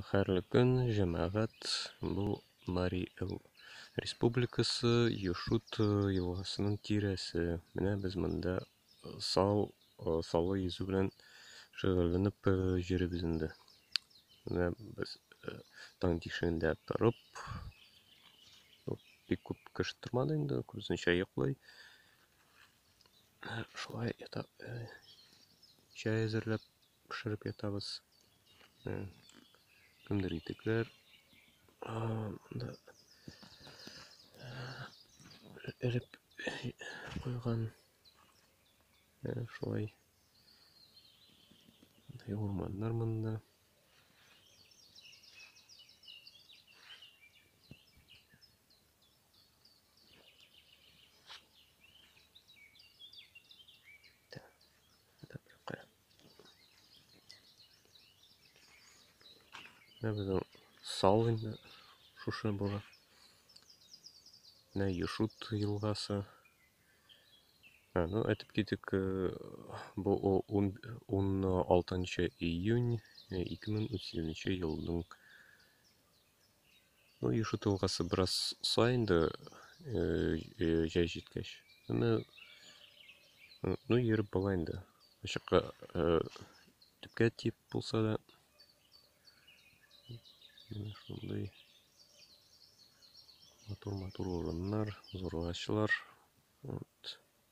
Хәерле көн, җәмәгать. Бу Мари Эл Республикасы, Юшут елгасының тирәсе. Менә без монда сал, салы йөзү белән шөгыльләнеп йөрибез инде. Менә без таң тишегендә торып, бик күп кеше тормады инде, күбесенчә йоклый. шулай ята чәй әзерләп пешереп ятабыз кемдер итекләр монда элеп куйган шулай мындай урманнар монда Менә безнең сал инде шушы була. Менә Юшут елгасы. Ә, ну, әйтеп китик, э, бу 16 июнь 2008 э, елның Ну, юшы тылгасы бераз са инде җәй җиткәч. Әмма ну йөреп була инде. Ачыкка төпкә тип булса да шундый матур матур урыннар, зур агачлар. Вот.